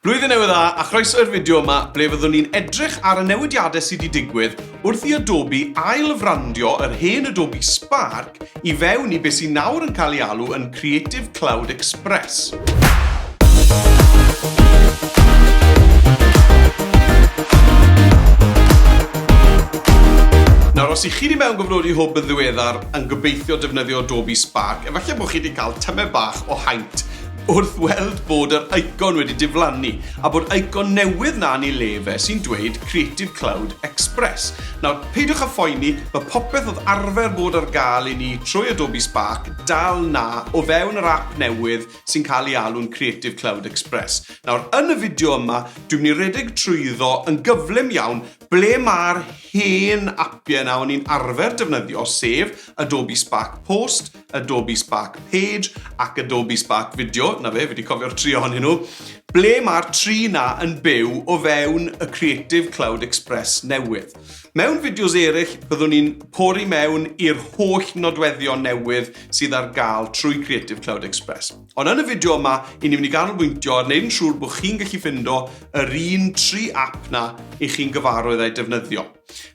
Blwyddyn Newydd Dda a chroeso i'r fideo yma ble fyddwn ni'n edrych ar y newidiadau sydd 'di digwydd wrth i Adobe ail-frandio yr hen Adobe Spark i fewn i be sy nawr yn cael ei alw yn Creative Cloud Express. os i chi wedi mewn gofnodi hwb yn ddiweddar yn gobeithio defnyddio Adobe Spark, efallai bod chi wedi cael tymed bach o haint wrth weld bod yr eicon wedi diflannu a bod eicon newydd 'na yn ei le fe sy'n dweud Creative Cloud Express. Nawr, peidiwch â phoeni, mae popeth oedd arfer bod ar gael i ni trwy Adobe Spark dal 'na o fewn yr ap newydd sy'n cael ei alw'n Creative Cloud Express. Nawr, yn y fideo yma, dwi'n mynd i redeg trwyddo yn gyflym iawn ble mae'r hen apiau 'na o'n i'n arfer defnyddio, sef Adobe Spark Post, Adobe Spark Page ac Adobe Spark Video, na fe, fi wedi cofio'r tri ohonyn nhw, ble mae'r tri na yn byw o fewn y Creative Cloud Express newydd. Mewn fideos eraill, byddwn ni'n pori mewn i'r holl nodweddion newydd sydd ar gael trwy Creative Cloud Express. Ond yn y fideo yma, i ni'n mynd i ganolbwyntio ar wneud yn siŵr bod chi'n gallu ffindo yr un tri app na i chi'n gyfarwydd a'i defnyddio.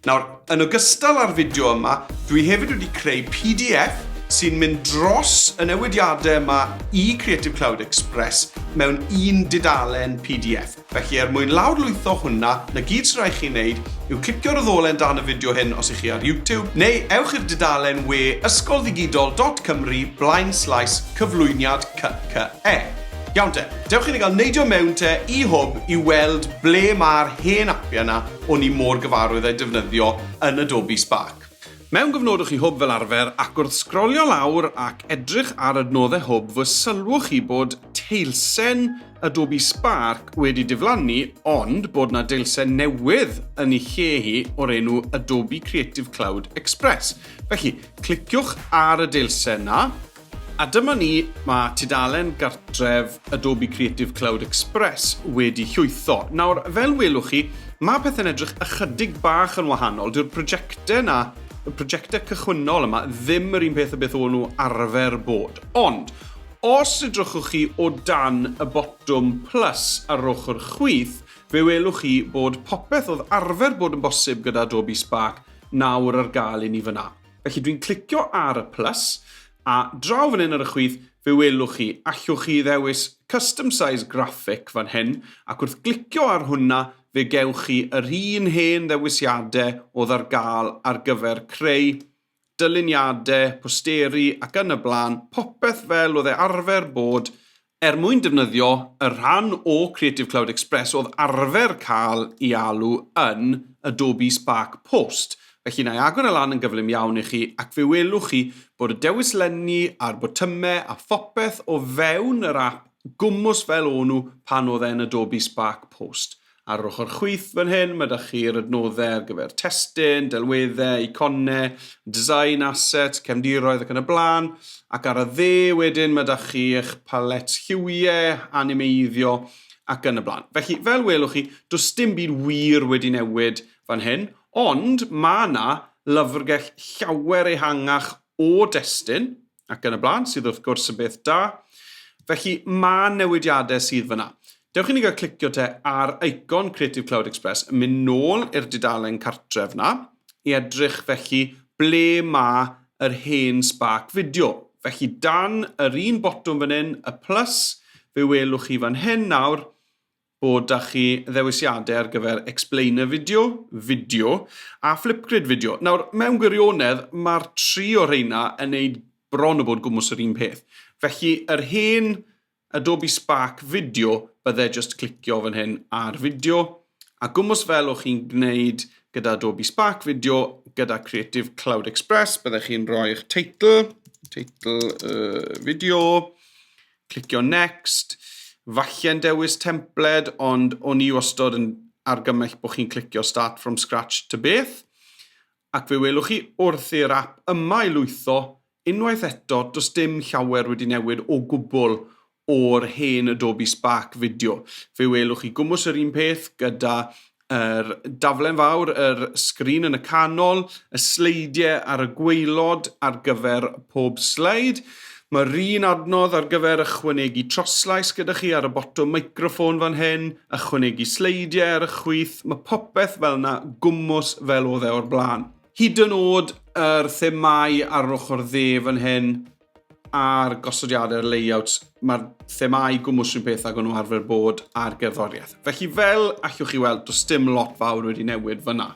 Nawr, yn ogystal â'r fideo yma, dwi hefyd wedi creu pdf sy'n mynd dros y newidiadau yma i Creative Cloud Express mewn un dudalen pdf. Felly, er mwyn lawrlwytho hwnna, na gyd sy'n rhaid chi wneud yw clicio'r ddolen dan y fideo hyn os ych chi ar YouTube, neu ewch i'r dudalen we ysgolddigidol.cymru blaen slaes cyflwyniad CCE. Iawn te, dewch i ni gael neidio mewn te i Hwb i weld ble mae'r hen apiau yna O'n i mor gyfarwydd a'i defnyddio yn Adobe Spark. Mewn gofnodwch i Hwb fel arfer ac wrth sgrolio lawr ac edrych ar adnoddau Hwb fy sylwch chi bod teilsen Adobe Spark wedi diflannu ond bod 'na deilsen newydd yn ei lle hi o'r enw Adobe Creative Cloud Express. Felly, cliciwch ar y deilsen 'na. A dyma ni, mae tudalen gartref Adobe Creative Cloud Express wedi llwytho. Nawr, fel welwch chi, mae pethau'n edrych ychydig bach yn wahanol. Dyw'r prosiectau 'na, y prosiectau cychwynnol yma, ddim yr un peth â beth o'n nhw arfer bod. Ond, os edrychwch chi o dan y botwm plus ar yr ochr chwith, fe welwch chi bod popeth oedd arfer bod yn bosib gyda Adobe Spark nawr ar gael i ni fan'na. Felly dwi'n clicio ar y plus, a draw fan hyn ar y chwith, fe welwch chi, allwch chi ddewis Custom Size Graphic fan hyn, ac wrth glicio ar hwnna, fe gewch chi yr un hen ddewisiadau oedd ar gael ar gyfer creu dyluniadau, posteri ac yn y blaen, popeth fel oedd e arfer bod Er mwyn defnyddio y rhan o Creative Cloud Express oedd arfer cael ei alw yn Adobe Spark Post, felly na i agor e lan yn gyflym iawn i chi ac fe welwch chi bod y dewis lenni a'r botymau a phopeth o fewn yr ap gwmws fel o nhw pan oedd e'n Adobe Spark Post. Ar yr ochr chwith fan hyn, mae da chi'r adnoddau ar gyfer testun, delweddau, eiconau, design, assets, cefndiroedd ac yn y blaen. Ac ar y dde wedyn, mae da chi eich palet lliwiau, animeiddio ac yn y blaen. Felly, fel welwch chi, does dim byd wir wedi newid fan hyn, ond mae yna lyfrgell llawer ehangach o destun, ac yn y blaen, sydd wrth gwrs yn beth da. Felly mae newidiadau sydd fyna. Dewch i ni gael clicio te ar icon Creative Cloud Express, yn mynd nôl i'r dudalen cartref yna, i edrych felly ble mae yr hen spark fideo. Felly dan yr un botwm fan hyn, y plus, fe welwch chi fan hyn nawr, bod 'da chi ddewisiadau ar gyfer Explainer Video, Fideo a Flipgrid Video. Nawr, mewn gwirionedd, mae'r tri o rheina yn neud bron o bod gwmws yr un peth. Felly, yr hen Adobe Spark Video, bydde just clicio fan hyn ar Video, a gwmws fel o'ch chi'n gwneud gyda Adobe Spark Video, gyda Creative Cloud Express, bydde chi'n rhoi'ch teitl, teitl y fideo, Clicio next. Falle'n dewis templed, ond o'n i wastod yn argymell bod chi'n clicio start from scratch to beth. Ac fe welwch chi wrth i'r app yma i lwytho, unwaith eto, does dim llawer wedi newid o gwbl o'r hen Adobe Spark fideo. Fe welwch chi gwmws yr un peth gyda yr daflen fawr, yr sgrin yn y canol, y sleidiau ar y gweilod ar gyfer pob sleid. Mae'r un adnodd ar gyfer ychwanegu troslais gyda chi ar y botwm microffon fan hyn, ychwanegu sleidiau ar y chwith, mae popeth fel yna gwmws fel oedd e o'r blaen. Hyd yn oed yr themâu ar yr ochr dde fan hyn, a'r gosodiadau a'r layouts, mae'r themau gwmwys rhywun peth ag o'n nhw arfer bod ar gerddoriaeth. Felly fel allwch chi weld, does dim lot fawr wedi newid fyna.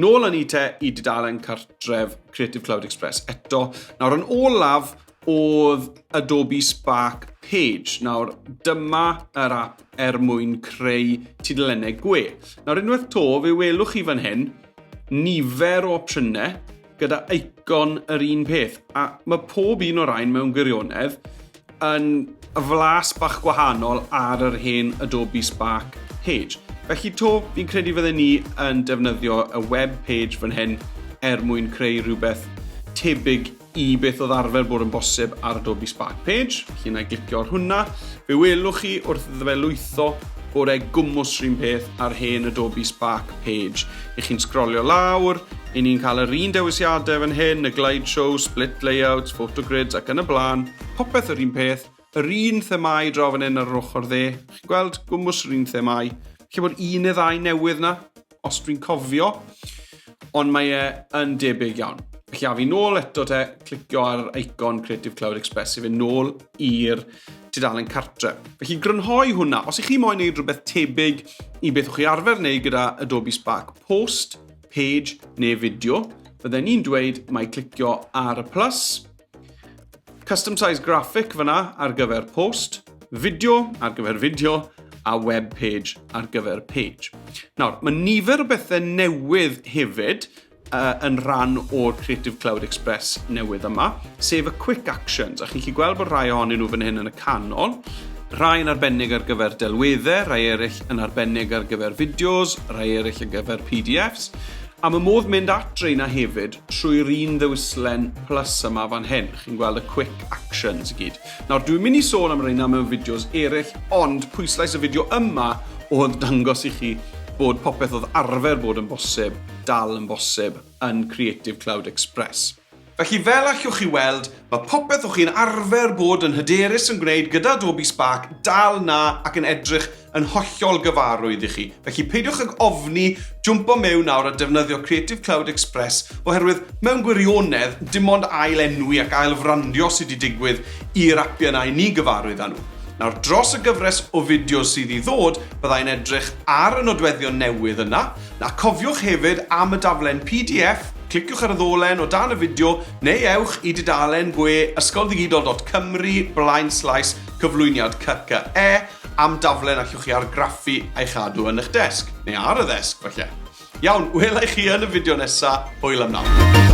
Nôl yn i te i dudalen cartref Creative Cloud Express. Eto, nawr yn olaf oedd Adobe Spark Page. Nawr, dyma yr app er mwyn creu tudalennau gwe. Nawr, unwaith to, fe welwch chi fan hyn, nifer o opsiynau, gyda eicon yr un peth. A mae pob un o'r rhain mewn gwirionedd yn y flas bach gwahanol ar yr hen Adobe Spark page. Felly to, fi'n credu fydden ni yn defnyddio y web page fan hyn er mwyn creu rhywbeth tebyg i beth oedd arfer bod yn bosib ar Adobe Spark page. Felly na i glicio ar hwnna. Fe welwch chi wrth iddo fe lwytho bore gwmwys rhywun peth ar hen Adobe Spark page. Y'ch chi'n sgrolio lawr, i ni'n cael yr un dewisiadau fan hyn, y glide show, split layouts, photo grids ac yn y blaen, popeth yr un peth, yr un themâu draw fan hyn ar yr ochr dde, chi'n gweld, gwmws yr un themâu. Lle bod un neu ddau newydd na, os dwi'n cofio, ond mae e yn debyg iawn. Felly a fi nôl eto te, clicio ar icon Creative Cloud Express i fe nôl i'r tudalen cartre. Felly grynhoi hwnna. Os ych chi moyn wneud rhywbeth tebyg i beth o'ch chi arfer wneud gyda Adobe Spark Post, Page neu Fideo, fydden ni'n dweud mae clicio ar y plus, Custom Size Graphic fyna ar gyfer post, fideo ar gyfer fideo a web page ar gyfer page. Nawr, mae nifer o bethau newydd hefyd yn rhan o'r Creative Cloud Express newydd yma, sef y Quick Actions, a chi'n chi gweld bod rhai ohonyn nhw fan hyn yn y canol, rhai yn arbennig ar gyfer delweddau, rhai eraill yn arbennig ar gyfer fideos, rhai eraill ar gyfer PDFs, a mae modd mynd at reina hefyd trwy'r un ddewislen plus yma fan hyn. Chi'n gweld y quick actions i gyd. Nawr, dwi'n mynd i sôn am reina mewn fideos eraill, ond pwyslais y fideo yma oedd dangos i chi bod popeth oedd arfer bod yn bosib dal yn bosib yn Creative Cloud Express. Felly fel allwch chi weld, mae popeth o chi'n arfer bod yn hyderus yn gwneud gyda Adobe Spark dal 'na ac yn edrych yn hollol gyfarwydd i chi. Felly peidiwch ag ofni jwmpo mewn nawr a defnyddio Creative Cloud Express oherwydd mewn gwirionedd dim ond ail enwi ac ail frandio sydd wedi digwydd i'r apiau yna i ni gyfarwydd â nhw. Nawr dros y gyfres o fideos sydd i ddod byddai'n edrych ar y nodweddion newydd yna A cofiwch hefyd am y daflen pdf, cliciwch ar y ddolen o dan y fideo neu ewch i dudalen gwe ysgolddigidol.cymru blaenslaes cyflwyniad CCE am daflen allwch chi argraffu a'i chadw yn eich desg, neu ar y ddesg falle. Iawn, wela i chi yn y fideo nesa, hwyl am nawr.